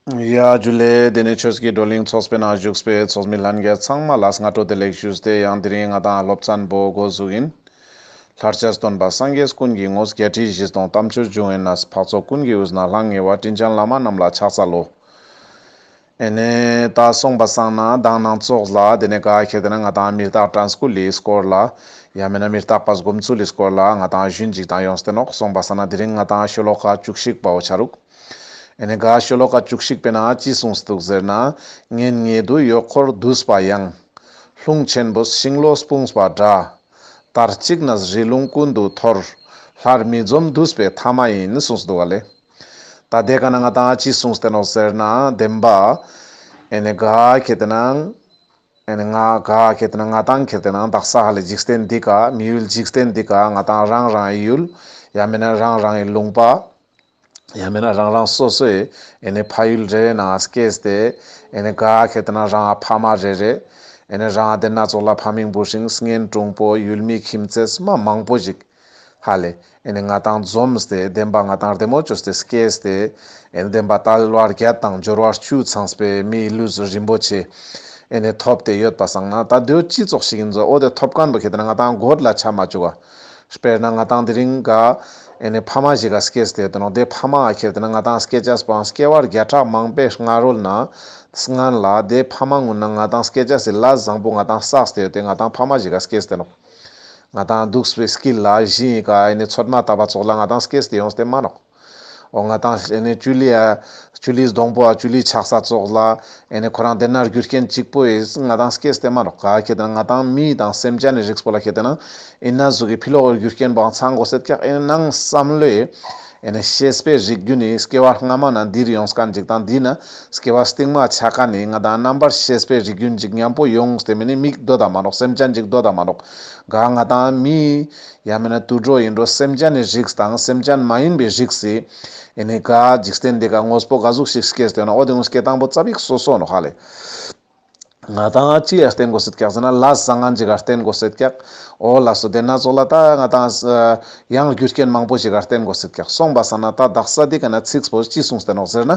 ཡ། རྒྱུ་ལས། དེ་ནས་ཁྱོད་ཀྱིས་བགྲོ་གླེང་ཚོགས་པའི་ནང་བཞུགས་པའི་ཚོགས་མི་ལྷན་རྒྱས་ཚང་མ་ལ་སྔ་དྲོ་བདེ་ལེགས་ཞུས་ཏེ་ཡང་དེ་རིང་ང་དང་སློབ་ཚན་པོ་སྒོ་ཟུག་ཡིན། ལྷར་བཅས་སྟོན་པ་སངས་རྒྱས་ཀུན་གྱི་ངོས་བརྒྱད་ཁྲི་བཞི་སྟོང་གཏམ་ཆོས་འབྱུང་ཨེ་ནཱས་འཕགས་ཚོགས་ཀུན་གྱི་དབུས་ན་ལྷང་ངེ་བ་སྤྲིན་ཆེན་བླ་མ་རྣམས་ལ་ཕྱག་འཚལ་ལོ། ཨེ་ནས། ད་སོང་པ་བསང་ན་གདངས་ནང་ཙོགས་ལ་དེ་ནས་ག་ཁྱེད་དེ་ན་ང་དང་མི་རྟག་དྲན་སྐུ་ལི་སྐོར་ལ། ཡང་མེད་ན་མི་རྟག་པ་སྒོམ་ཚུལ་ལི་སྐོར་ལ་ང་དང་གཞུད་འཇིགས་དང་ཡོངས་སུ་བསྟེན་ནོག་སོང་པ་བསང་ན་དེ་རིང་ང་དང་ཤོ་ལོ་ཀ་བཅུ་གཅིག་པའོ་བྱ་རུག། ཨེ་ནས་ག་ཤོ་ལོ་ཀ་བཅུ་གཅིག་པའི་ནང་ཅི་གསུངས་འདུག་ཟེར་ན། ངའི་ཉེ་དུ་ཡོད་ཁོར་བསྡུས་པ་ཡང། ལྷུང་ཆེན་པོས་ཤིང་ལོ་སྤུངས་པ་འདྲ། དར་གཅིག་ན་བཞི་རླུང་ཀུན་ཏུ་འཐོར། ལྷར་མི་འཛོམ་བསྡུས་པའི་མཐའ་མ་ཡིན་གསུངས་འདུག་ག་ལེ། ད་ལྟའི་ག་ན་ང་དང་ཅི་གསུངས་བསྟན་ནོ་ཟེར་ན་བདེན་པ། ཨེ་ནས་ག་ཁྱེད་དེ་ནང། ཨེ་ནས་ང་ག་ཁྱེད་དེ་ནང་ང་དང་ཁྱེད་དེ་ནང་དག་ས་ཧ་ལས་འཇིག་རྟེན་འདི་ག་མི་ཡུལ་འཇིག་རྟེན་འདི་ག་ང་དང་རང་རང་ཡུལ། ཡང་མིན་ན་རང་རང་ཡི་ལུང་པ། ཡང་མིན་ན་རང་རང་སོ་སོས་ཨེ་ནས་ཕ་ཡུལ་རེ་རེ་ནང་སྐྱེས་ཏེ་ཨེ་ནས་ག་གེ་ད་ན་རང་ཨ་ཕ་མ་རེ་རེ་ཨེ་ནས་རང་ཨ་དེ་སྣ་ཚོགས་ལ་ཕ་མིང་འབུ་ཤིང་སྔན་གྲུང་པོ་ཡུལ་མི་ཁྱིམ་མཚེས་སུ་མ་མང་པོ་ཞིག་ཧ་ལས་ཨེ་ནས་ང་དང་འཛོམས་ཏེ་བདེན་པ་ང་དང་རེ་མོ་བཅོས་ཏེ་སྐྱེས་ཏེ་ཨེ་ནས་བདེན་པ་ཏཱ་ལའི་བར་བརྒལ་དང་འབྱོར་བ་བཅུ་ཚང་པའི་མིའི་ལུས་སུ་རིན་པོ་ཆེ་ཨེ་ནས་ཐོབ་ཏེ་ཡོད་པ་བསམ་ན་ད་གདོད་སྤྱི་ཚོགས་ཤིག་གི་མཛོ་འོ་དེ་ཐོབ་གང་དུ་གེ་ད་ན་ང་དང་སྒོར་ལ་ཆ་མ་བཅུག་ཨ། དཔེར་ན་ང་དང་དེ་རིང་ག་ཨེ་ནས་ཕ་མ་ཞིག་ག་སྐྱེས་སྡད་དུ་ནོ་དེ་ཕ་མ་ཨ་ཁྱེར་དེ་ན་ང་དང་སྐྱེས་ཅག་སྤང་སྐྱེས་བར་བརྒྱ་ཕྲག་མང་པའི་སྔ་རོལ་ན་སྔན་ལ་དེ་ཕ་མ་ངུ་ན་ང་དང་སྐྱེས་ཅག་སི་ལ་བཟང་པོ་ང་དང་བསགས་སྡད་ཡོད་དེ་ང་དང་ཕ་མ་ཞིག་ག་སྐྱེས་སྡད་ནོ་ང་དང་འདུག་སི་བའི་སྐྱིད་ལ་བཞིན་ཡིན་ག་ཨེ་ནས་ཚོད་མ་ལྟ་བ་ཚོགས་ལ་ང་དང་སྐྱེས་སྡད་ཡོང་སྡད་མ་ནོག། འོ་ང་དང་ཨེ་ནས་ཅུ་ལི་ཨ། ཅུ་ལིས་སྡོང་པོ་ཨ་ཅུ་ལིས་ཆགས་ས་བཙོག་ལ། ཨེ་ནས་ཁོ་རང་དེ་ན་རྒྱུ་རྐྱེན་གཅིག་པོ་ཨེ། ང་དང་སྐད་བསྟན་མ་རོགས་ག་ཁྱེད་དང་ང་དང་མི་དང་སེམས་ཅན་ནས་རིགས་པོ་ལ་ཁྱེད་དེ་ན། ཨེ་ན་གཟུགས་ཀྱི་འཕི་ལོག་རྒྱུ་རྐྱེན་པའང་ཚང་གོ་སེར་སྐྱག་ཨེ་ནས་ནང་བསམ་བློས། ཨེ་ནས་ཤེས་སྤེལ་རིགས་རྒྱུ་ནི་སྐྱེ་བ་སྔ་མ་ན་འདིར་ཡོང་སྐ་འཇིག་དང་འདི་ན་སྐྱེ་བ་སྟིང་མ་ཆགས་ཀ་ནི་ང་དང་རྣམ་པར་ཤེས་སྤེལ་རིགས་རྒྱུ་འཇིག་ཉམས་པོ་ཡོང་སྟེ་མི་ནི་མིག་རྡོ་དང་མ་རོགས་སེམས་ཅན་འཇིག་རྡོ་དང་མ་རོགས་ག་ང་དང་མི། ཡང་མིན་ན་དུད་འགྲོ་ཡིན་འགྲོ་སེམས་ཅན་ནི་རིགས་དང་སེམས་ཅན་མ་ཡིན་པའི་རིགས་སི། ཨེ་ནི་ག། འཇིག་རྟེན་འདི་ག་དངོས་པོ་ག་གཟུགས་ཤིག་སྐྱེས་ཟེར་ན་འོ་དེ་དངོས་སྐྱེས་དང་པོ་རྩ་བིག་སོ་སོ་ནོ་ཧ་ལས། ང་དང་ཅི་ཡར་བརྟེན་དགོས་སེ་ཀྱག་ཟེར་ན་ལ་བཟང་ང་འཇི་གར་བརྟེན་དགོས་སེ་ཀྱག། འོ་ལ་སོ་དེ་སྣ་ཚོགས་ལ་ད་ང་དང་སི། ཡང་རྒྱུ་རྐྱེན་མང་པོ་ཞིག་གར་བརྟེན་དགོས་སེ་ཀྱག་སོང་པ་ས་ན་ད་བདག་ས་དེ་ག་ན་ཚིགས་བོད་ཅི་གསུངས་ཟེར་ནོག་ཟེར་ན།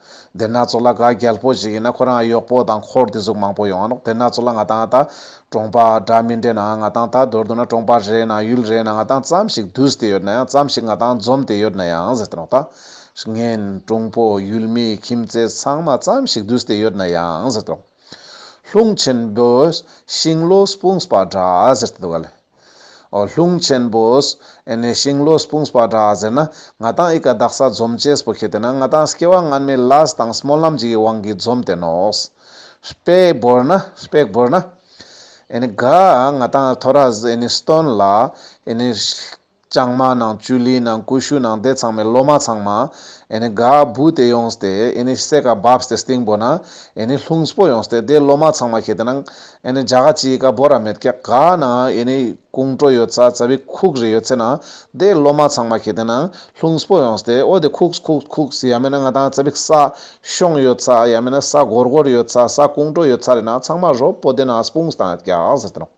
དེ་སྣ་ཚོགས་ལ་ག་རྒྱལ་པོ་ཞིག་ཡིན་ན་ཁོ་རང་གཡོག་པོ་དང་འཁོར་དེ་གཟུགས་མང་པོ་ཡོང་རོགས་དེ་སྣ་ཚོགས་ལ་ང་དང་ད་གྲོངས་པ་འདྲ་མི་འདྲེ་ན་ང་དང་ད་དོར་འདུག་ན་གྲོངས་པ་རེད་ན་ཡུལ་རེད་ན་ང་དང་ཙམ་ཞིག་བསྡུས་ཏེ་ཡོད་ན་ཡང་ཙམ་ཞིག་ང་དང་འཛོམས་ཏེ་ཡོད་ན་ཡང་ཟེར་རོགས་ད། ངན། གྲོངས་པོ། ཡུལ་མི། ཁྱིམ་མཚེས་ཚང་མ་ཙམ་ཞིག་བསྡུས་ཏེ་ཡོད་ན་ཡང་ཟེར་རོགས། ལྷུང་ཆེན་བོས། ཤིང་ལོ་སྤུངས་པ་འདྲ་ཟེར་ཏེ་འདུག་ག་ལས། ཨོ་ལྷུང་ཆེན་པོས། ཨེ་ནས་ཤིང་ལོ་སྤུང་སྤ་འདྲ་ཟེར་ན། ང་དང་ཨི་ཀ་བདག་ས་འཛོམ་བཅས་སྤུ་ཁེ་དེ་ན་ང་དང་སྐྱེ་བ་སྔར་མའི་ལ་ས་དང་སྨོན་ལམ་གྱི་དབང་གིས་འཛོམ་དེ་ནོ། སྤེ་བོར་ན། སྤེགས་བོར་ན། ཨེ་ནས་ག། ང་དང་ཐོ་ར་ཨེ་ནས་སྟོན་ལ། ཨེ་ནས། ལྕང་མ་ནང་བཅུད་ལི་ནང་ཀུ་ཤུ་ནང་དེ་ཚང་མའི་ལོ་མ་ཚང་མ་ཨེ་ནི་ག་བུ་དེ་ཡོང་སྟེ་ཨེ་ནི་སེ་ག་བབས་སྟེ་སྟེང་པོ་ན་ཨེ་ནི་ལྷུང་སྤོ་ཡོང་སྟེ་དེ་ལོ་མ་ཚང་མ་ཁྱེད་དེ་ནང་ཨེ་ནི་འཇག་ག་ཅི་ཡི་ག་བོ་ར་མེད་ཀྱག་ག་ན་ཨེ་ནི་ཀུང་ཀྲོ་ཡོད་ཚ་ཚ་བི་ཁུག་རི་ཡོད་ཚེ་ན་དེ་ལོ་མ་ཚང་མ་ཁྱེད་དེ་ནང་ལྷུང་སྤོ་ཡོང་སྟེ་ཨོ་དེ་ཁུགས་ཁུགས་ཁུགས་ཡ་མེད་ན་ང་དང་ཚ་བི་ས་ཤོང་ཡོད་ཚ་ཡ་མེད་ན་ས་གོར་གོར་ཡོད་ཚ་ས་ཀུང་ཀྲོ་ཡོད་ཚ་རེ་ན་ཚང་མ་རོ་པོ་དེ་ན་སྤུངས་དང་ཀྱག་ཟེར་དེ་ནང།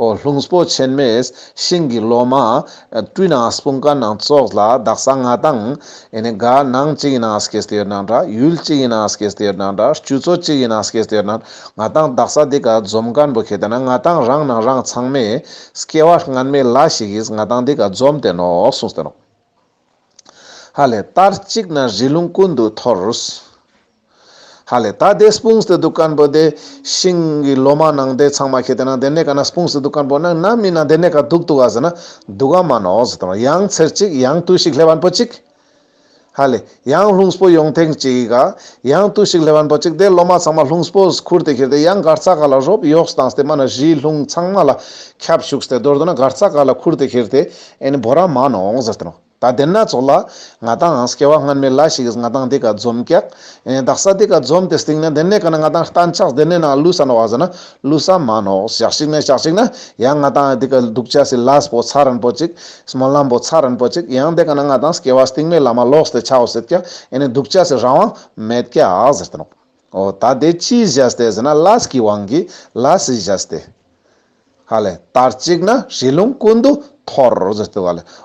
ཨོ་ལྷུང་སྤོ་ཆེན་མེས་ཤིང་གི་ལོ་མ། སྤྲུལ་ནག་སྤུངས་ཀ་ནང་ཙོགས་ལ་བདག་ས་ང་དང། ཨེ་ནས་དགའ་སྣང་གཅིག་ཡིན་ནང་སྐད་སྟེར་ནང་འདྲ་ཡུལ་གཅིག་ཡིན་ནང་སྐད་སྟེར་ནང་འདྲ་སྤྱོད་ཚོ་གཅིག་ཡིན་ནང་སྐད་སྟེར་ནང་ང་དང་བདག་ས་འདི་ག་འཛོམས་ཀ་འབུ་ཁེ་ད་ནང་ང་དང་རང་ནང་རང་ཚང་མས་སྐྱེ་བ་སྔར་མེད་ལ་ཞིག་ཡིས་ང་དང་འདི་ག་འཛོམས་ཏེ་ནོག་སུངས་སྟེ་ནོག། ཧ་ལས་ད་གཅིག་ན་རི་ལུང་ཀུན་ཏུ་འཐོར། ཧ་ལས་ད་དེ་སྤུངས་སྟེ་འདུག་ཀན་པོ་དེ་ཤིང་གི་ལོ་མ་ནང་དེ་ཚང་མ་ཁྱེར་དེ་ནང་དེ་ནས་ག་ན་སྤུངས་སྟེ་འདུག་ཀན་པོ་ནང་ན་མི་ན་དེ་ནས་ག་འདུག་འདུག་ཨ་ཟེར་ན་འདུག་ཨ་མ་ནོ་ཟེར་དང་ཡང་ཚེར་ཅིག་ཡང་ཏུ་ཞིག་ལྷས་བན་པོ་ཅིག། ཧ་ལས་ཡང་ལྷུངས་པོ་ཡོང་ཐེངས་ཅིག་ག་ཡང་ཏུ་ཞིག་ལྷས་བན་པོ་ཅིག་དེ་ལོ་མ་ཚང་མ་ལྷུངས་པོ་ཁུར་དེ་ཁྱེར་དེ་ཡང་སྒར་ཚ་ག་ལ་རོབ་ཡོགས་སུ་བཏང་སྟེ་མ་ན་གཞིས་ལྷུང་ཚང་མ་ལ་ཁྱབ་བཞུགས་སྟེ་མདོར་དུ་ན་སྒར་ཚ་ག་ལ་ཁུར་དེ་ཁྱེར་དེ། ཨེ་ནི་བོ་ར་མ་ནོ་འོང་ཟེར་ཏེ་ནོ། ད་དེ་ན་ཚོགས་ལ། ང་དང་ཨང་སྐྱེ་བ་སྔར་མེད་ལ་ཞིག་ང་དང་དེ་ག་འཛོམ་སྐྱག། ཨེ་དག་ས་དེ་ག་འཛོམ་དེ་སྟེང་ན་དེ་ནས་ག་ན་ང་དང་གཏན་ཆགས་དེ་ནས་ན་བླུ་ས་ནོ་བ་ཟེར་ན་བླུ་ས་མ་ནོ་ཞག་ཞིག་ན་ཞག་ཞིག་ན་ཡང་ང་དང་ཨེ་དེ་ག་འདུག་ཆ་སི་ལ་སི་པོ་ཚ་རན་པོ་ཅིག། སྨོན་ལམ་པོ་ཚ་རན་པོ་ཅིག་ཡང་དེ་ག་ན་ང་དང་སྐྱེ་བ་སྟེང་མེད་ལ་མ་ལོགས་ཏེ་ཆའོ་སེར་སྐྱག་ཨེ་ནི་འདུག་ཆ་སི་རང་དབང་མེད་སྐྱག་ཟེར་ཏེ་ནོ། འོ་ད་དེ་ཅིས་བཞེས་ཏེ་ཟེར་ན་ལ་སི་ཀི་དབང་གིས་ལ་སི་བཞེས་ཏེ། ཧ་ལས་དར་གཅིག་ན་རི་ལུང་ཀུན་ཏུ་འཐོར།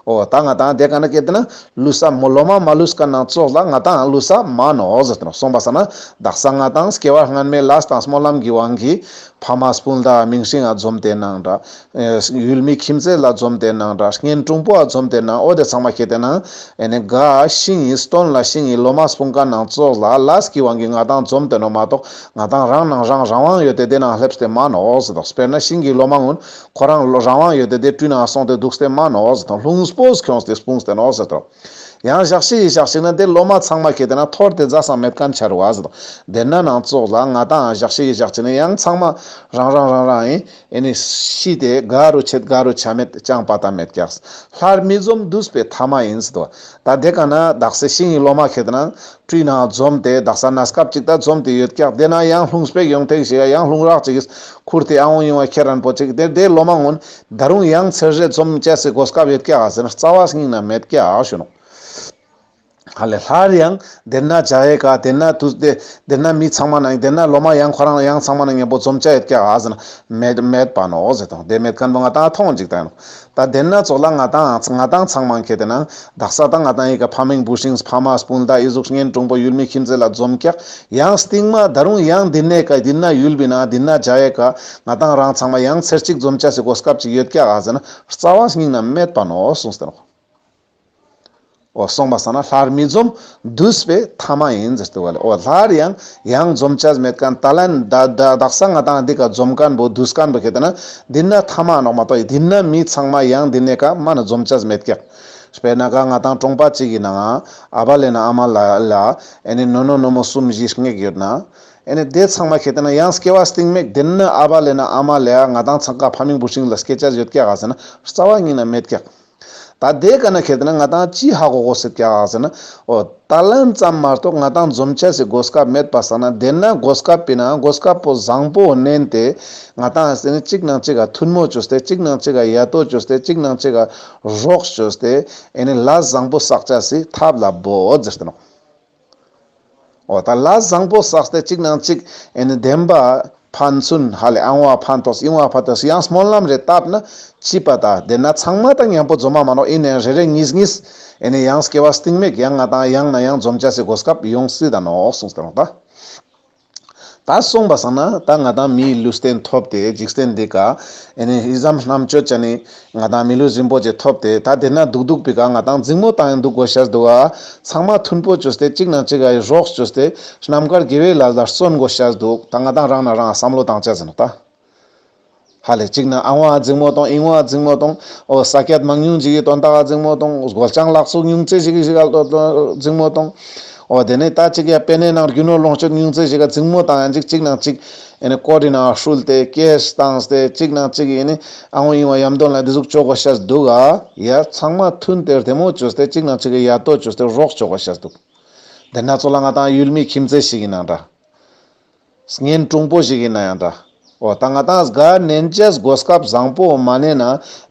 ཨོ་ད་ང་དང་དེ་ག་ན་ཀད་ན། ལུས་ས་མོ་ལོ་མ་མ་ལུས་ཀ་ནང་ཙོག་ལ་ང་དང་ལུས་ས་མ་ནོ། སོང་པ་ས་ན་བདག་ས་ང་དང་སྐྱེ་བ་སྔན་མའི་ལས་དང་སྨོན་ལམ་གྱི་དབང་གིས། ཕ་མ་སྤུན་ཟླ་མིང་སྲིང་ཨ་འཛོམས་དེ་ནང་འདྲ། ཡུལ་མི་ཁྱིམ་བརྩེ་ལ་འཛོམས་དེ་ནང་འདྲ་ངན་གྲུང་པོ་ཨ་འཛོམས་དེ་ནང་ཨོ་དེ་ཚང་མ་ཁྱེད་དེ་ནང། ཨེ་ནས་དགའ། ཤིང་ཡིན་སྟོན་ལ་ཤིང་ཡིན་ལོ་མ་སྤུན་ཀ་ནང་ཙོག་ལ་ལས་ཀྱི་དབང་གིས་ང་དང་འཛོམས་དེ་ནོ་མ་གཏོགས། ང་དང་རང་ནང་རང་རང་དབང་ཡོད་དེ་དེ་ནང་སླེབས་ཏེ་མ་ནོགས་དོགས་དཔེར་ན་ཤིང་གི་ལོ་མ་སྔོན་ཁོ་རང་རང་དབང་ཡོད་དེ་དེ་སྤྲུལ་ནང་སོང་སྟེ་འདུག་སྟེ་མ་ནོགས་དོགས་ལྷུང་སྤོས་ཁྱོངས་ཏེ་སྤུངས་ཏེ་ནོགས་ཟེར་དོགས། ཡང་ཞག་ཕྱི་ཡི་ཞག་ཞིག་ན་དེ་ལོ་མ་ཚང་མ་གྱེས་དེ་ན་ཐོར་ཏེ་རྫ་སངས་མེད་སྐམ་འཆར་བ་ཟེར་དོགས་དེར་ན་ནང་ཙོག་ལ་ང་དང་ཞག་ཕྱི་ཡི་ཞག་ཅིག་ནས་ཡང་ཚང་མ་རང་རང་རང་རང་ཨེ་ཨེ་ཤི་དེ་དགའ་རུ་ཆེད་དགའ་རུ་ཆ་མེད་ཅང་དཔའ་ཐ་མེད་སྐྱགས་ལྷར་མི་འཛོམས་དུས་པའི་ཐ་མ་ཡིན་ཟེར་དོགས། ད་དེ་ག་ན་དག་སའི་ཤིང་ཡིག་ལོ་མ་ཁེད་ན་བཀྲུས་ན་འཛོམས་ཏེ་དག་ས་ན་སྐབས་ཅིག་ད་འཛོམས་ཏེ་ཡོད་སྐྱག་དེ་ན་ཡང་ལྷུང་སྤེགས་ཡོང་ཐེངས་ཤིག་ཨ་ཡང་ལྷུང་རག་ཅིག་ཁུར་ཏེ་ཨ་འོང་ཡོང་བ་ཁྱེད་རན་པོ་ཅིག་དེར་དེའི་ལོ་མ་སྔོན་ད་རུང་ཡང་ཚེ་རྗེས་འཛོམས་བཅས་སའི་སྒོ་སྐབས་ཡོད་སྐྱག་ཨ་ཟེར་ན་རྩ་བ་སྙིང་ན་མེད་སྐྱག་ཨ་ཞོ་ནོག་ཨ་ལས་སླར་ཡང་དེར་ན་བྱ་ཡས་ཀ་དེར་ན་དུས་དེ་དེར་ན་མི་ཚང་མ་ན་དེར་ན་ལོ་མ་ཡང་ཁོ་རང་ལ་ཡང་ཚང་མ་ན་ངན་པོ་འཛོམས་བཅས་ཡོད་སྐྱག་ཨ་ཟེར་ན་མེད་མེད་པ་ནོག་ཟེར་ཐོང་དེ་མེད་ཁན་པོ་ང་ད་ཐོང་ཅིག་ད་ཡོང་ད་བདེན་སྣ་ཚོགས་ལ་ང་ཐང་ང་ཐང་ཚང་མང་ཁེ་དེ་ནང་བདག་ས་ད་ང་ཐང་ཡི་ག་ཕ་མིང་བུ་ཤིང་ཕ་མ་སྤུན་ཟླ་ཡི་གཟུགས་བརྙན་གྲུང་པོ་ཡུལ་མི་ཁྱིམ་མཚེས་ལ་འཛོམས་སྐྱག་ཡང་སྟིང་མ་ད་རུང་ཡང་འདི་ནས་ག་འདི་ན་ཡུལ་བི་ན་འདི་ན་འཇའ་ཡེ་ག་ང་ཐང་རང་ཚང་མ་ཡང་ཚེར་གཅིག་འཛོམས་ཅ་སི་གོ་སྐབས་ཅིག་ཡོད་སྐྱག་ཨ་ཟེ་ན་རྩ་བ་སྙིང་ན་མེད་པ་ནོ་སུང་སྟེ་ནོ། འོ་སོང་པ་ས་ན་ལྷར་མི་འཛོམ། བསྡུས་པས་ཐ་མ་ཡིན། འོ་ལྷར་ཡང་ཡང་འཛོམ་བྱ་མེད་ཀན་ད་ལན། བདག་ས་ང་དང་འདི་ཀ་འཛོམ་ཀན་པོ་བསྡུས་ཀན་པོ་ཁེ་ད་ན་འདི་ན་ཐ་མ་ནོག་མ་ཏོག་ཡིན་འདི་ན་མི་ཚང་མ་ཡང་འདི་ནས་ཀ་མ་ན་འཛོམ་བྱ་མེད་ཀྱག། དཔེར་ན་ཀ་ང་དང་ཀྲོང་པ་གཅིག་ཡིན་ན་ང་ཨ་བ་ལེ་ན་ཨ་མ་ལ་ལ་ཨེ་ནི་ནོ་ནོ་ནོ་མོ་གསུམ་བཞི་སྔེགས་ཡོད་ན། ཨེ་ནི་དེ་ཚང་མ་ཁེ་ད་ན་ཡང་སྐྱེ་བ་སྟིང་མེད་འདི་ན་ཨ་བ་ལེ་ན་ཨ་མ་ལེ་ཨ་ང་དང་ཚང་ཀ་ཕ་མིང་བུ་ཤིང་ལ་སྐྱེ་བྱ་ཡོད་ཀྱག་ཨ་ཟེ་ན་རྩ་བ་གཉིས་ན་མེད་ཀྱག། ད་ལྟའི་སྐར་ན་ཁེར་དེ་ན་ང་ཏང་ཅི་ཧ་གོ་གོ་ཟེར་ཀྱ་ཨ་ཟེར་ན། ཨོ། ད་ལམ་ཙམ་མ་གཏོགས་ང་ཏང་འཛོམས་ཆ་ཟེར་གོ་སྐབས་མེད་པ་ཟ་ན་དེ་ན་གོ་སྐབས་པི་ན་གོ་སྐབས་པོ་བཟང་པོ་བསྣན་ཏེ། ང་ཏང་ཟེར་ནས་གཅིག་ནང་གཅིག་ག་ཐུར་མོ་བཅོས་ཏེ་གཅིག་ནང་གཅིག་ག་ཡ་ཏོ་བཅོས་ཏེ་གཅིག་ནང་གཅིག་ག་རོགས་བཅོས་ཏེ། ཨེ་ནི་ལ་བཟང་པོ་བསགས་ཆ་ཟིག་ཐབས་ལ་བོ་ཟེར་ཏེ་ནོ། འོ་ད་ལ་བཟང་པོ་བསགས་ཏེ་གཅིག་ནང་གཅིག་ཨེ་ནི་བདེན་པ། ཕན་ཚུན་ཧ་ལས་ཨང་བ་ཕན་ཐོགས་སི་ཨང་བ་ཕ་ཐོས་སི་ཡང་སྨོན་ལམ་རེ་བཏབ་ན་སྐྱིད་པ་ད་དེ་ན་ཚང་མ་དང་མཉམ་པོ་འཛོམས་མ་མ་རོག་ཨེ་ནི་རེ་རེ་གཉིས་གཉིས་ཨེ་ནི་ཡང་སྐྱེ་བ་སྟིང་མེག་ཡང་ང་དང་ཡང་ན་ཡང་འཛོམས་བྱ་སི་གོ་སྐབས་ཡོང་སི་ད་ནོག་སོང་སི་ད་ནོག་ད། ད་གསུངས་པ་བསམ་ན་ད་ང་དང་མིའི་ལུས་རྟེན་ཐོབ་སྟེ་འཇིག་རྟེན་འདི་ཀའིནི་ཟམ་གནམ་གཅོད་ཅན་ནི་ང་དང་མི་ལུས་རིན་པོ་ཆེ་ཐོབ་སྟེ་ད་འདིར་ན་འདུག་འདུག་པའི་ཀ་ང་དང་རྫིང་མོ་དང་ཡང་འདུག་གོ་ཞེས་འདུག་ཨ་ཚང་མ་མཐུན་པོ་བཅོས་སྟེ་གཅིག་ན་གཅིག་ག་ཡི་རོགས་བཅོས་སྟེ་རྣམ་དཀར་དགེ་བའི་ལ་ལར་བརྩོན་གོ་ཞེས་འདུག་ད་ང་དང་རང་ན་རང་བསམ་བློ་དང་བཅས་ཟིན་ནོ་ད། ཧ་ལས་གཅིག་ན་ཨང་བ་རྫིག་མོ་དང་ཨིང་བ་རྫིག་མོ་དང། ཨོ་ས་སྐད་མང་ཉུང་ཅིག་ཡོད་དོ་ཟླ་བ་རྫིག་མོ་དང། སྒོ་བྱང་ལག་ཚུགས་ཉུང་ཙེ་ཞིག་གི་ཤིག་ཨ་ལྟོ་རྫིག་མོ་དང། ཨོ་དེ་ནས་ད་ཅིག་ཡ་དཔེ་ནས་ནང་རྒྱུ་ནོར་ལོངས་སྤྱོད་ཉུང་ཙེ་ཞིག་ག་རྫིག་མོ་དང་ཡ་འཇིག་གཅིག་ནང་གཅིག། ཨེ་ནས་ཀོ་ཏི་ནང་ཨ་ཧྲུལ་ཏེ་ཀེས་དང་ཏེ་གཅིག་ནང་གཅིག་ཡེ་ནས་ཨང་བ་ཨིང་བ་ཡམ་དོན་ལ་འདི་ཟུག་ཅོག་གོ་ཤར་འདུག་ཨ། ཡ་ཚང་མ་ཐུན་དེར་དེ་མོ་བཅོས་ཏེ་གཅིག་ནང་གཅིག་གི་ཡ་ལྟོ་བཅོས་ཏེ་རོགས་ཅོག་གོ་ཤར་འདུག། འདི་སྣ་ཚོགས་ལ་ང་དང་ཡུལ་མི་ཁྱིམ་མཚེས་ཞིག་གི་ནང་འདྲ། བརྙན་ཐུང་པོ་ཞིག་ཡིན་ན་ཡང་འདྲ། འོ་ད་ང་དང་གཟའ་ནན་ཅེས་སྒོ་སྐབས་བཟང་པོ་བོ་མ་བསྣན་ན་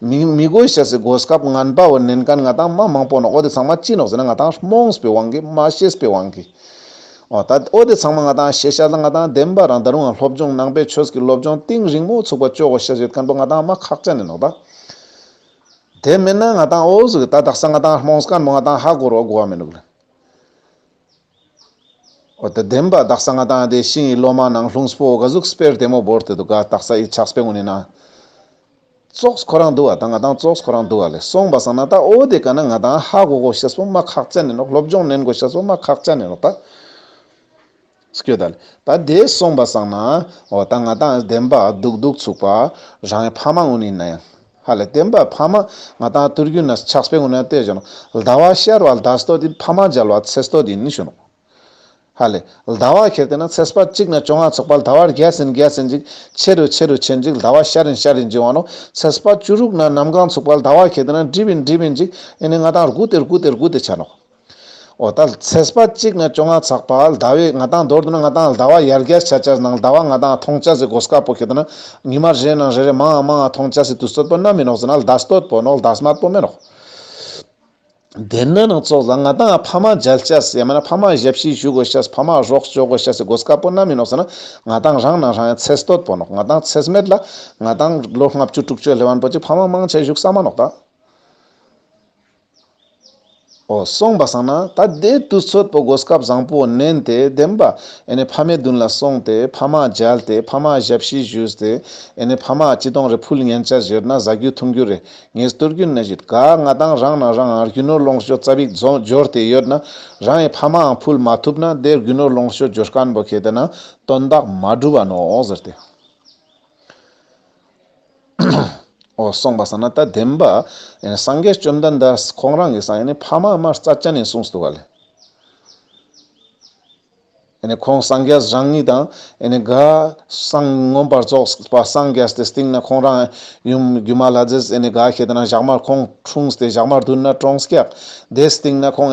མི་མི་དགོས་ཤ་ཟེར་སྒོ་སྐབས་ངན་པ་བོ་བསྣན་གན་ང་དང་མ་མང་པོ་ནོག་འོ་དེ་ཚང་མ་ཅི་ནོག་ཟེར་ན་ང་དང་རྨོངས་པའི་དབང་གིས་མ་ཤེས་པའི་དབང་གིས། འོ་ད་འོ་དེ་ཚང་མ་ང་དང་ཤེས་ཤ་ལ་ང་དང་བདེན་པ་རང་ད་རུང་སློབ་སྦྱོང་ནང་པའི་ཆོས་ཀྱི་སློབ་སྦྱོང་གཏིང་རིང་མོ་ཚུགས་པ་ཅོག་གོ་ཤ་ཡོད་གན་པོ་ང་དང་མ་ཁག་ཅ་ནས་ནོག་ད། དེ་མེད་ན་ང་དང་འོ་ཟུག་གི་ད་དག་ས་ང་དང་རྨོངས་གན་པོ་ང་དང་ཧ་གོ་རོག་གོ་བ་མེད་ནུབ་ལ། ཨོ་ཏི་བདེན་པ་དག་ས་ང་དང་དེ་ཤིང་ཡི་སློ་མ་ནང་ལྷུང་སྤོ་ག་གཟུགས་སྤེར་དེ་མོ་བོར་དེ་དུ་ག་དག་ས་ཡི་ཆགས་སྤེ་ངོ་ནི་ན། ཙོགས་ཁོ་རང་འདུ་བ་དང་ང་དང་ཙོགས་ཁོ་རང་འདུ་བ་ལས་སོང་བ་ས་ན་ད་ཨོ་དེ་ག་ན་ང་དང་ཧ་གོ་གོ་ཤ་སྤོ་མ་ཁག་ཅ་ནི་ནོག་སློབ་སྦྱོང་ནན་གོ་ཤ་སྤོ་མ་ཁག་ཅ་ནི་ནོག་ད། སྐྱོ་ད་ལས་ད་དེ་སོང་བ་ས་ན་ཨོ་ད་ང་དང་བདེན་པ་སྡུག་སྡུག་ཚུགས་པ་རང་ཡི་ཕ་མ་ངོ་ནི་ན་ཡང། ཧ་ལས་བསྟན་པ་ཕ་མ་ང་དང་བསྟུར་གྱུར་ན་ཕྱག་སྤེལ་ངོ་ན་བལྟས་བྱུང། ཟླ་བ་ཤར་བ་ཟླ་སྟོད་དེ་ཕ་མ་སྦྱར་བ་ཚེ་སྟོད་དེ་ནི་བྱུང། ཧ་ལས། ཟླ་བ་ཁེར་བལྟས་ན་ཚེ་སྤར་གཅིག་ན་བཅོ་ལྔ་ཚོགས་པ་ཟླ་བར་རྒྱས་ཟིན་རྒྱས་ཟིན་ཅིག་ཆེ་རུ་ཆེ་རུ་ཆེ་འཇིག་ཟླ་བ་ཤར་རིང་ཤར་རིང་འཇིག་འོང་ནོ། ཚེ་སྤར་བཅུ་དྲུག་ན་གནམ་གང་ཚུགས་པ་ཟླ་བ་ཁེར་བལྟས་ན་འགྲིབ་བིན་འགྲིབ་བིན་འཇིག་ཨེ་ནས་ང་དང་རྒུ་སྟེ་རྒུ་སྟེ་རྒུ་སྟེ་བྱ་ནོ། འོ་ད་ཚེ་སྤ་གཅིག་ན་བཅོ་ལྔ་ཚག་པ་ལྡ་བའི་ང་ཏང་རྡོར་དུ་ན་ང་ཏང་ལྡ་བ་ཡར་རྒྱར་ཆ་ཆར་ནང་ལྡ་བ་ང་ཏང་ཐོང་ཆ་སི་གོ་སྐ་པོ་ཁེ་ཏུ་ན་ཉི་མ་རེ་ནང་རེ་རེ་མང་ཨང་མང་ཨང་ཐོང་ཆ་སི་དུ་སྟོད་པོ་ན་མི་ནོག་ཟི་ན་ལྡ་སྟོད་པོ་ནོག་ལྡ་སི་མ་པོ་མེ་ནོག། དེ་ན་ནང་ཙོག་ཟ་ང་ཏང་ཨ་ཕ་མ་འཇལ་ཆ་སི་ཡ་མ་ན་ཕ་མ་ཞབས་ཕྱི་ཞུ་གོ་ཤ་སི་ཕ་མ་རོག་སྤྱོ་གོ་ཤ་སི་གོ་སྐ་པོ་ན་མི་ནོག་ཟི་ན་ང་ཏང་རང་ནང་རང་ཡང་ཚེ་སྟོད་པོ་ནོག་ང་ཏང་ཚེ་སི་མེད་ལ་ང་ཏང་ལོ་ལྔ་བཅུ་དྲུག་ཅུ་ལྷེ་བན་པོ་གཅིག་ཕ་མ་མང་ཆ་ཞུག་ས་མ་ནོག་ད། སོང་བ་སང་ན་ད་ལྟའི་དུས་ཚོད་པོ་སྒོ་སྐབས་བཟང་པོ་བསྣན་ཏེ་བདེན་པ་ཨེ་ཕ་མའི་མདུན་ལ་སོང་ཏེ་ཕ་མ་མཇལ་ཏེ་ཕ་མ་ཞབས་བཞི་བཞུས་ཏེ་ཨེ་ཕ་མ་སྤྱི་སྟོང་རེ་ཕུལ་མཉན་བྱ་གཞིར་ན་བཟའ་རྒྱུ་འཐུང་རྒྱུ་རེ་ངེས་བསྟོད་རྒྱུ་ན་གཞི་དགའ་ང་དང་རང་ནང་རང་ཨང་རྒྱུ་ནོར་ལོངས་སྤྱོད་རྩ་བིག་རྫོ་འབྱོར་དེ་ཡོད་ན་རང་ཨེ་ཕ་མའང་ཕུལ་མ་ཐུབ་ན་དེར་རྒྱུ་ནོར་ལོངས་སྤྱོད་འབྱོར་དཀར་འབོ་ཁེ་དེ་ན་དོན་དག་མ་འགྲུབ་བ་ནོ་ཟེར་ཏེ། འོ་གསུངས་པ་ས་ན་ད་བདེན་པ། སངས་རྒྱས་བཅོམ་ལྡན་འདས་ཁོང་རང་གིས་སངས་ནི་ཕ་མ་དམར་རྩ་བཅད་ནས་གསུངས་སོང་བ་ལས། ཁོང་སངས་རྒྱས་རང་ཉིད་དང། ག་སངས་མངོན་པར་རྫོགས་པ་སངས་རྒྱས་དེ་སྟེང་ན་ཁོང་རང། ཡུམ་སྒྱུ་མ་ལྷ་རྫས་ག་ཞེས་དེ་ན་བཞག་མར་ཁོང་འཁྲུངས་ཏེ་བཞག་མར་བསྡུ་ན་ཏྲོང་སྐྱག། དེ་སྟེང་ན་ཁོང།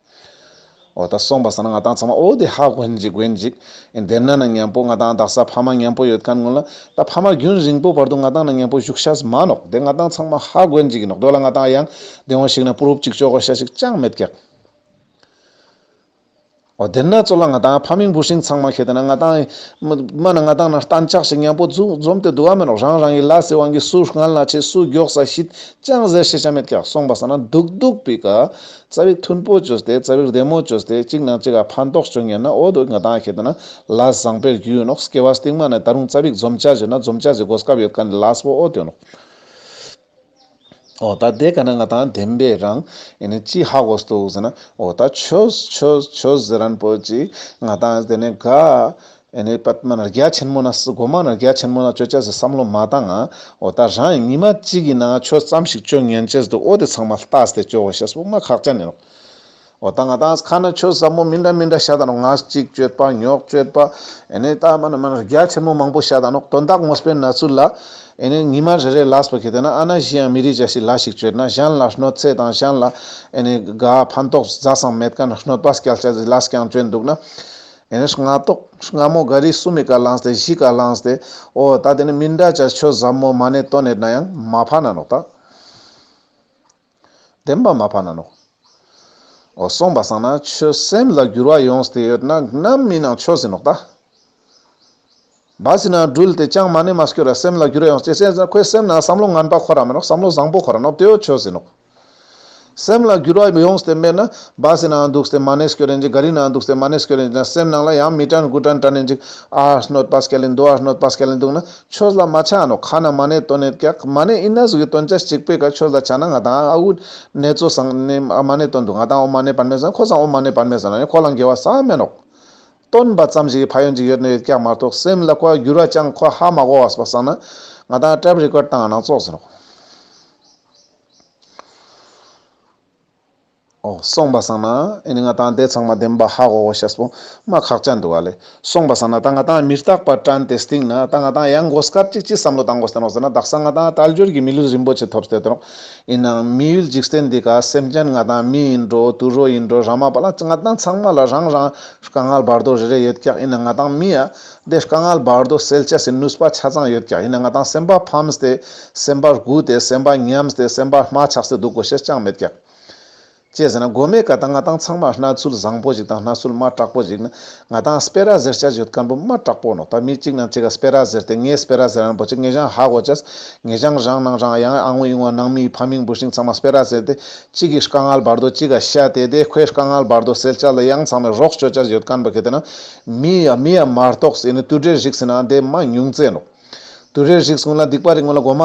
འོ་ད་སོང་བ་ཟ་ན་ང་དང་ཚང་མ་འོ་དེ་ཧ་གོ་འཇིག་གོ་འཇིག། འདེབས་ན་ན་མཉམ་པོ་ང་དང་དག་ས་ཕ་མ་མཉམ་པོ་ཡོད་ག་ངོ་ལ། ད་ཕ་མ་རྒྱུན་རིང་པོ་བར་དུ་ང་དང་ན་མཉམ་པོ་བཞུགས་ཤ་ཟ་མ་ནོག་དེ་ང་དང་ཚང་མ་ཧ་གོ་འཇིག་ནོག་འགྲོ་ལ་ང་དང་ཡང་དེ་འོང་ཞིག་ན་པུ་རུབ་ཅིག་ཅོག་གོ་ཤ་ཞིག་ཅང་མེད་ཀྱག། འོ་དེར་ན་ཚོ་ལ་ང་དང་ཕ་མིང་བུ་ཤིང་ཚང་མ་ཁེ་དེ་ན་ང་དང། མ་ན་ང་དང་ན་གཏན་ཆགས་ཤིག་མཉམ་པོ་འཛུགས་འཛོམས་དེ་འདུ་བ་མེད་ནོག་རང་རང་གི་ལ་སི་དབང་གིས་སུ་སྔན་ལ་ཆས་སུ་མགྱོགས་ས་ཤིད་ཅང་ཟེར་ཤེས་ཆ་མེད་ཀྱག་སོང་བ་ཟ་ན་སྡུག་སྡུག་པི་ཀ། རྩ་བའི་མཐུན་པོ་བཅོས་ཏེ་རྩ་བའི་བདེ་མོ་བཅོས་ཏེ་གཅིག་ནང་གཅིག་ག་ཕར་འདོགས་བྱུང་ཡོད་ན་འོ་དོ་ངེད་དང་ཁྱེད་དེ་ན་ལ་བཟང་པའི་རྒྱུ་ཡོད་ནོག་སྐྱེ་བ་སྟིང་མ་ནས་ད་རུང་རྩ་བའི་འཛོམ་བྱ་བྱེད་ན་འཛོམ་བྱ་བྱེད་དགོས་སྐབས་ཡོད་ག་ནི་ལ་སོ་འོ་དོ་ནོག། འོ་ད་དེ་ག་ནི་ང་དང་དེ་འདྲའི་རང་ཡིན་ནི་ཅི་ཧ་གོ་སྟུག་ཟེར་ན་འོ་ད་ཆོས་ཆོས་ཆོས་ཟེར་རན་པོ་ཅིག་ང་དང་དེ་ནི་དགའ། ཨེ་ནས་པད་མ་རྒྱ་ཆེན་མོ་ན་སི་གོ་མ་ན་རྒྱ་ཆེན་མོ་ན་ཅོ་ཅཱ་ཟི་བསམ་བློ་མ་བཏང་ང་འོ་ད་རང་ཉི་མ་གཅིག་གི་ནང་ཆོས་བརྩམས་ཤིག་ཅོ་ངན་ཅེས་འདུག་འོ་དེ་ཚང་མ་ལྟ་སྟེ་ཅོ་བོ་ཤེས་དཔུང་མ་ཁག་ཅན་ནས་རོགས་འོ་ད་ང་དང་ཁ་ན་ཆོས་ཟབ་མོ་མི་འདྲ་མི་འདྲ་ཤ་ད་རོགས་ང་གཅིག་སྤྱོད་པ་ཉོག་སྤྱོད་པ་ཨེ་ནས་ད་མ་ན་མ་ན་རྒྱ་ཆེན་མོ་མང་པོ་ཤ་ད་རོགས་དོན་དག་ངོ་སྤེལ་ན་ཚུལ་ལ་ཨེ་ནས་ཉི་མ་རེ་རེ་ལགས་པ་གི་དེ་ན་ཨ་ན་གཞི་ཡང་མི་རིགས་ཅག་ཤི་ལ་ཞིག་སྤྱོད་ན་གཞན་ལ་ཧྲནོ་ཚེ་དང་གཞན་ལ་ཨེ་ནས་དགའ་ཕན་ཏོག་བཟའ་སང་མེད་ཀ་ན་ཧྲནོ་པ་སྐྱལ་ཅག་ཟི་ལ་སྐྱང་སྤྱོད་འདུག་ན་ཡང་ན་སྔ་ཐོག་སྔ་མོ་འགའ་རེའི་སུ་མི་ཀ་ལངས་ཏེ་བཞི་ཀ་ལངས་ཏེ། ཨོ་ད་དེ་ནི་མི་འདྲ་བྱ་ཆོས་ཟབ་མོ་མ་ནས་སྟོན་ནས་ན་ཡང་མ་ཕ་ན་ནོག་ད། བདེན་པ་མ་ཕ་ན་ནོག། ཨོ་གསུངས་པ་སང་ན་ཆོས་སེམས་ལ་འགྱུར་བ་ཡོངས་ཏེ་ཡོད་ན་རྣམ་སྨིན་ནང་ཆོས་ཟིན་ནོག་ད། བ་ཟིན་ན་འགྲུལ་ཏེ་ཅང་མ་ནི་མ་སྐྱོ་ར་སེམས་ལ་འགྱུར་ཡང་སྐྱེ་ཟིན་ན་ཁོའི་སེམས་ན་བསམ་བློ་ངན་པ་ཁོ་ར་མིན་ནོ་བསམ་བློ་བཟང་པོ་ཁོ་ར་ནོ་དེའོ་ཆོས་ཟིན་ནོ། སེམས་ལ་འགྱུར་བ་ཡོངས་ཏེ་མེད་ན་བ་ཟིན་ན་འདུག་སྟེ་མ་ནི་སྐྱོ་རན་ཅིག་ག་རི་ན་འདུག་སྟེ་མ་ནི་སྐྱོ་རན་ཅིག་ན་སེམས་ནང་ལ་ཡང་མི་དྲན་དགུ་དྲན་དྲན་ནི་འཇིག་ཨ་སྣོད་པ་སྐྱེ་ལེ་འདུག་ཨ་སྣོད་པ་སྐྱེ་ལེ་འདུག་ན་ཆོས་ལ་མ་ཆགས་ནོ་ཁ་ན་མ་ནི་དོན་ནི་སྐྱག་མ་ནི་ཨི་ན་གཟུགས་ཀྱི་དོན་ཅན་གཅིག་པས་ཀ་ཆོས་ལ་ཆགས་ན་ང་དང་ཨ་འུད་ནེ་ཙོ་ཟང་ནི་ཨ་མ་ནི་དོན་འདུག་ང་དང་ཨོ་མ་ནི་བར་མེད་ཟིན་ན་ཁོ་ཟང་ཨོ་མ་ནི་བར་མེད་ཟིན་ན་ནི་ཁོ་ལ་འགལ་བ་ཟ་མེད་ནོ། སྟོན་པ་ཙམ་ཞིག་གི་ཕ་ཡོན་ཅིག་ཡོད་དོན་ཡོད་ཀྱང་མ་གཏོགས་སེམས་ལ་ཁོ་འགྱུར་བ་ཅང་ཁོ་ཧ་མ་གོ་བ་སོགས་བསམ་ན་ང་དང Tape Record དང་ནང་ཙོག་ཟེར་རོགས། ཨོ། སོང་པ་བསམ་ན་ཨེ་ནི་ང་དང་དེ་ཚང་མ་བདེན་པ་ཧ་གོ་གོ་ཤ་སྤོ་མ་ཁག་ཅག་འདུག་ཨ་ལེ། སོང་པ་བསམ་ན་ད་ང་དང་མི་རྟག་པར་བཀྲ་འདི་སྟེང་ན་ད་ང་དང་ཡང་མགོ་སྐར་ཅིག་ཅི་བསམ་བློ་བཏང་གོ་བསྟན་རོགས་ཟེར་ན་བདག་སང་ང་དང་དལ་འབྱོར་གྱི་མི་ལུས་རིན་པོ་ཆེ་ཐོབ་བསྟན་རོགས། ཡིན་ནའང་མི་ཡུལ་འཇིག་རྟེན་འདི་ག་སེམས་ཅན་ང་དང་མི་ཡིན་འགྲོ་དུད་རོ་ཡིན་འགྲོ་རང་མ་པ་ལ་ང་དང་ཚང་མ་ལ་རང་རང་དཀའ་ངལ་བར་དོ་རེ་རེ་ཡོད་ཀྱང་ཡིན་ན་ང་དང་མི་ཡ་དེ་དཀའ་ངལ་བར་དོ་སེལ་བྱ་སེ་ནུས་པ་ཆ་ཚང་ཡོད་ཀྱང་ཡིན་ན་ང་དང་སེམས་པ་ཕམ་སྟེ་སེམས་པར་སྒུག་སྟེ་སེམས་པ་ཉམས་སྟེ་སེམས་པ་སྨྲ་ཆགས་སེ་འདུག་གོ་ཞེས་ཅང་མེད་ཀྱང། ཅེས་ཟེར་ན་མགོ་མེད་ཀ་ད་ང་ཏང་ཚང་མར་སྣ་ཚུལ་བཟང་པོ་ཞིག་དང་སྣ་ཚུལ་མ་དྲག་པོ་ཞིག་ནི་ང་ཏང་སྤེ་ར་ཟེར་བྱ་ཡོད་ཀ་འབུམ་མ་དྲག་པོ་ནོ་ད་མི་གཅིག་ནང་གཅིག་ག་སྤེ་ར་ཟེར་ཏེ་ངས་སྤེ་ར་ཟེར་ཨང་འབོ་ཆེ་ངེ་ཞང་ཧ་གོ་ཅེས་ངེ་ཞང་རང་ནང་རང་ཡང་ཨང་དབྱུང་བ་ནང་མིའི་ཕ་མིང་འབུ་ཤིང་ཚང་མ་སྤེ་ར་ཟེར་ཏེ་གཅིག་གིས་ཤཀ་ངལ་བར་དོ་གཅིག་ག་ཤ་དེ་དེ་ཁོས་ཤཀ་ངལ་བར་དོ་ཟེར་བྱ་ལ་ཡང་ཚང་མས་རོགས་བྱོས་བྱ་ཡོད་ཀ་འབུ་ག་དེ་ནང་མི་ཡ་མི་ཡ་མར་གཏོགས་སེ་ནི་དུད་འགྲེལ་བཞིག་ཟེར་ནའང་དེ་མ་ཉུང་ཙེ་ནོ། དུ་རེར་ཞིག་སོང་ན་སྡིག་པ་རིག་མོ་ལ་སྒོ་མ་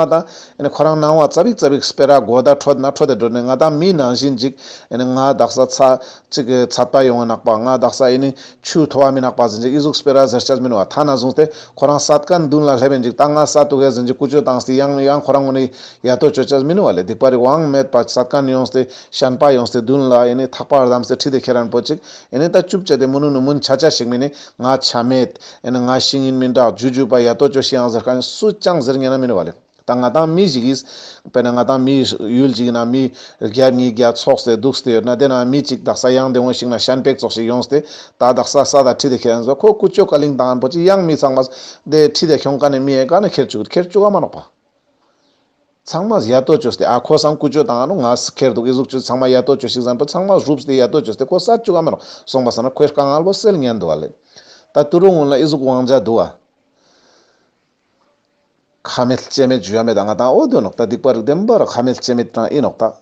ད། ཁོ་རང་སྣང་བ་རྩ་བིག་རྩ་བིག་སྤེ་རག་སྒོ་ད་འཕྲོ་ན་འཕྲོ་དེ་འགྲོ་ནས་ང་དང་མི་ནང་བཞིན་འཇིག། ང་བདག་ས་ཚ། ཅིག་གི་ཚ་བཏགས་ཡོང་བ་ནག་པ་ང་བདག་ས་ཨེ་ནི། ཆུ་འཐོར་བ་མི་ནག་པ་ཟིན་འཇིག་ཨི་གཟུགས་སྤེ་རག་ཟེར་ཆ་མིན་བ་ཐ་ན་བཟུང་སྟེ་ཁོ་རང་ས་དཀར་མདུན་ལ་སླེབས་པའི་འཇིག་ད་ང་ས་དུ་ཁའི་ཟིན་འཇིག་ཀུ་ཅོ་དང་སི་ཡང་ཡང་ཁོ་རང་ངོ་ནི་ཡ་ཐོ་ཅོ་ཅར་མིན་བ་ལས་སྡིག་པ་རིག་དབང་མེད་པ་ས་དཀར་ནི་ཡོང་སྟེ་ཤན་པ་ཡོང་སྟེ་མདུན་ལ་ཨེ་ནི་ཐག་པ་ར་དམ་སེ་ཁྲིད་དེ་ཁྱེད་རང་པོ་ཅིག་ཨེ་ནི་ད་ཅུབ་བྱས་ཏེ་མུ་ནུ་ནུ་མུན་ཆ་ཆ་ཞིག་མིན་ནི་ང་ཆ་མེད། ཨེ་ན་ང་ཤི་ངི་མིན་དྲག་ཇུས་ཇུས་པ་ཡ་ཏོ་ཅོ་ཤི་ཨང་ཟེར་ཁ་ནས་སུ་ཅང་ཟེར་ངན་ན་མིན་ནོ་བ་ལེ། ད་ང་དང་མི་ཞིག་ཡིས། དཔེར་ན་ང་དང་མི་ཡུལ་ཅིག་ཡིན་ན་མི། རྒྱ་གཉིས་རྒྱ་ཚོགས་སེ་འདུག་སྟེ་ཡོད་ན་དེ་ན་མི་གཅིག་རྡག་ས་གཡང་དེ་འོང་ཞིག་ན་ཤན་པེག་ཚོགས་ཤིག་ཡོང་སྟེ། ད་རྡག་ས་ས་དང་ཁྲི་དེ་ཁེར་ཨེ་འཛོ་ཁོ་ཀུ་ཅོ་ཀ་ལིང་དང་འབོ་ཅི་གཡང་མི་ཚང་མ། དེ་ཁྲི་དེ་ཁྱོང་ཀ་ནས་མི་ཨེ་ག་ནས་ཁེར་བཅུག་ཁེར་བཅུག་ག་མ་ནོག་པ། ཚང་མ་ཡ་ཏོ་ཅོས་ཏེ་ཨ་ཁོ་སང་ཀུ་ཅོ་དང་ཨ་ནུ་ང་སི་ཁེར་འདུག་ཨི་གཟུགས་ཆུ་ཚང་མ་ཡ་ཏོ་ཅོ་ཞིག་བཟང་པོ་ཚང་མ་བཞུགས་ཏེ་ཡ་ཏོ་ཅོས་ཏེ་ཁོ་གསར་བཅུག་ཨ་མ་རང་སོང་པ་ཟ་ན་ཁོའི་དཀའ་ངལ་བོ་སེལ་ཉན་འདུག་བ་ལས། ད་ཏུ་རུ་སྔོན་ལ་ཨི་གཟུགས་དབང་ཆ་འདུག་བ། ཁ་མེད་ལྕེ་མེད་ཇུས་ཡ་མེད་ཨ་ང་དང་ཨོ་དོན་ནོག་ད་སྡིག་པ་རིགས་ལྡན་པ་ར་ཁ་མེད་ལྕེ་མེད་ཀྲང་ཨི་ནོག་ད།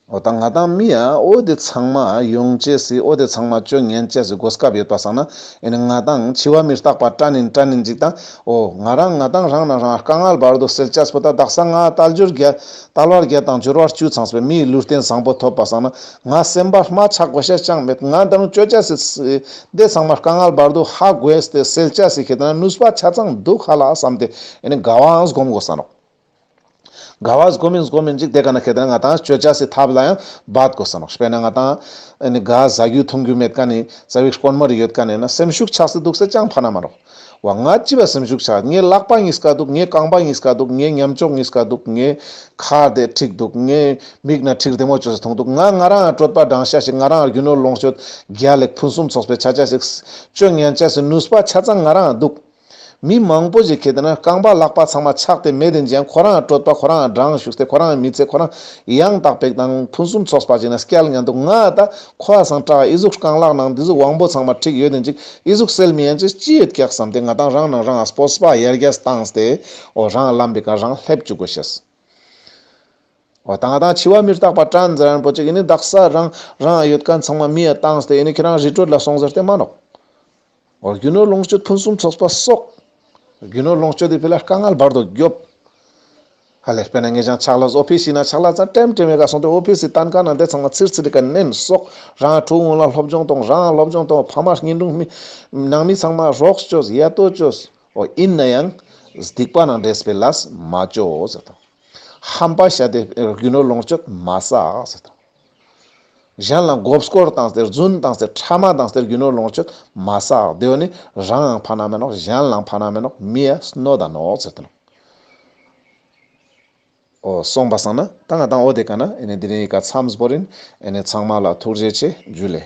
ཨོ་དང་ང་དང་མི་ཡ་ཨོ་དེ་ཚང་མ་ཡོང་བྱས་སི་ཨོ་དེ་ཚང་མ་སྤྱོད་ངན་བྱས་སི་གོ་སྐབས་ཡོད་པ་ཟང་ན་ཨེ་ནི་ང་དང་འཆི་བ་མི་རྟག་པ་ཏྲ་ནིན་ཏྲ་ནིན་ཅིག་དང་ཨོ་ང་རང་ང་དང་རང་ན་རང་དཀའ་ངལ་བར་དུ་སེལ་བྱས་སྤུ་ད་དག་སང་ང་ཏལ་འབྱོར་བརྒྱ་ཏལ་བར་བརྒྱ་དང་འབྱོར་བར་བཅུ་ཚང་སི་མིའི་ལུས་རྟེན་བཟང་པོ་ཐོབ་པ་ཟང་ན་ང་སེམས་པ་རྨ་ཆག་གོ་ཤས་ཅང་མེད་ང་དང་སྤྱོད་བྱས་སི་སི་ཨོ་དེ་ཚང་མ་དཀའ་ངལ་བར་དུ་ཧ་གོས་སི་སེལ་བྱས་སི་ཁེ་ད་ན་ནུས་པ་ཆ་ཚང་འདུག་ཧ་ལ་བསམ་སྟེ་ཨེ་ནི་དགའ་བའང་སྒོམ་དགོ་ཟང་རོགས། ག་བ་གཟུགས་མིན་གཟུགས་མིན་ཅིག་དེ་ག་ན་ཁེལ་ཏེ་ན་ང་དང་སྤྱོད་བྱ་སྲིད་ཐབས་ལ་ཡང་འབད་དགོས་བསམ་མོ། དཔེར་ན་ང་དང་ནི་ག་བཟའ་རྒྱུ་འཐུང་རྒྱུ་མེད་ཀ་ནི་རྩ་བའི་དཀོན་མོ་རེ་ཡོད་ཀ་ནས་ན་སེམས་ཤུགས་ཆགས་སྲིད་འདུག་ཟེར་ཀྱང་ཕ་ན་མ་རོགས། བ་ང་ཅི་བ་སེམས་ཤུགས་ཆགས་ངའི་ལག་པ་གཉིས་ཀ་སྡུག་ངའི་རྐང་པ་གཉིས་ཀ་སྡུག་ངའི་ཉམས་ལྕོག་གཉིས་ཀ་སྡུག་ངའི་ཁ་དེ་འཁྲིགས་འདུག་ངའི་མིག་ན་འཁྲིགས་བདེ་མོ་བྱོས་སུ་འཐུང་འདུག་ང་ང་རང་ཡང་སྤྲོད་པ་བགྲང་བྱ་ཞིག་ང་རང་ཡང་རྒྱུ་ནོར་ལོངས་སྤྱོད་རྒྱ་ལེགས་ཕུན་སུམ་ཚོགས་པའི་བྱ་བྱ་ཞིག། སྤྱོད་ངན་བྱས་སུ་ནུས་པ་ཆ་ཚང་ང་རང་ཡང་འདུག། མི་མང་པོ་ཞིག་གིས་བལྟས་ན་རྐང་པ་བརླག་པ་ཚང་མ་ཆགས་ཏེ་མེད་དེ་འཇལ་ཁོ་རང་སྤྲོད་པ་ཁོ་རང་སྦྲང་བཞུགས་ཚེ་ཁོ་རང་མི་ཚེ་ཁོ་རང་ཡང་དག་པའི་དང་ཕུན་སུམ་ཚོགས་པ་ཞིག་ན་སྐལ་ངན་འདུག་ང་ད་ཁོ་ཨ་སང་བཀྲ་ཨི་གཟུགས་རྐང་བརླག་ནང་འདི་གཟུགས་དབང་པོ་ཚང་མ་འཁྲིགས་ཡོད་དེ་འཇིག་ཨི་གཟུགས་སེལ་མི་ཡན་ཅིག་ཅི་ཡོད་ཀྱག་བསམ་སྟེ་ང་དང་རང་ནང་རང་ཨ་སྤོ་སྤ་ཡར་རྒྱས་སུ་བཏང་སྟེ་འོ་རང་བརླམས་པའི་ཁར་རང་སླེབས་བཅུག་གོ་ཞེས་འོ་ད་ང་དང་འཆི་བ་མིར་བཏགས་པ་བཀྲ་འཛི་རན་པོ་ཅིག་ཨི་ནི་བདག་ས་རང་རང་ཨ་ཡོད་ཀ་ཚང་མ་མི་ཡ་བཏང་སྟེ་ཨི་ནི་ཁྱེད་རང་རི་ཁྲོད་ལ་སོང་ཟེར་ཏེ་སྨྲ་ནོ། རྒྱུ་ནོར་ལོངས་སྤྱོད་ཕུན་སུམ་ཚོགས་པ་སོགས། རྒྱུ་ནོར་ལོངས་སྤྱོད་དེ་དཔེ་ལ་དཀའ་ངལ་བར་དུ་རྒྱོབ། ཧ་ལས་པས་ན་ངས་ཀྱང་ཆགས་ལ་ཟོག་ཕུད་ཤིག་ན་ཆགས་ལ་ཚ་གྲེམ་གྲེམ་བའི་ཁར་སོང་སྟེ་ཨོ་ཕི་སི་ཏན་ཁང་ནང་དེ་ཚང་མ་ཚིར་ཚིར་གྱིས་མནན་སོགས་རང་ཨ་ཕྲུག་སྔོན་ལ་སློབ་སྦྱོང་གཏོང་རང་སློབ་སྦྱོང་གཏོང་ཕ་མ་བསྙེན་སྒྲུང་སྨིན། ནང་མི་ཚང་མ་རོགས་བཅོལ་ཡ་ལྟོ་བཅོལ། ཨོ་ཡིན་ན་ཡང། སྡིག་པ་ནང་འདྲེས་པའི་ལ་སི་མ་བཅོལ། ཧམ་པ་བྱ་སྟེ་རྒྱུ་ནོར་ལོངས་སྤྱོད་མ་བསགས། གཞན་ལ་མགོ་སྐོར་དང་ཟེར་རྫུན་དང་ཟེར་ཕྲ་མ་དང་ཟེར་རྒྱུ་ནོར་ལོངས་སྤྱོད་མ་བསགས་དེ་བས་ནི་རང་ཡང་ཕ་ན་མེ་ནོག་གཞན་ལའང་ཕ་ན་མེ་ནོག་མི་ཡ་སྣོད་དང་ནོག་ཟེར་དོ། ཨོ། གསུངས་པ་བསམ་ན་ད་ང་དང་ཨོ་དེ་ག་ན་ཨེ་ནི་དེ་རིང་ཡི་ག་མཚམས་པོ་རིན་ཨེ་ནི་ཚང་མ་ལ་ཐུགས་རྗེ་ཆེ་རྒྱུ་ལས།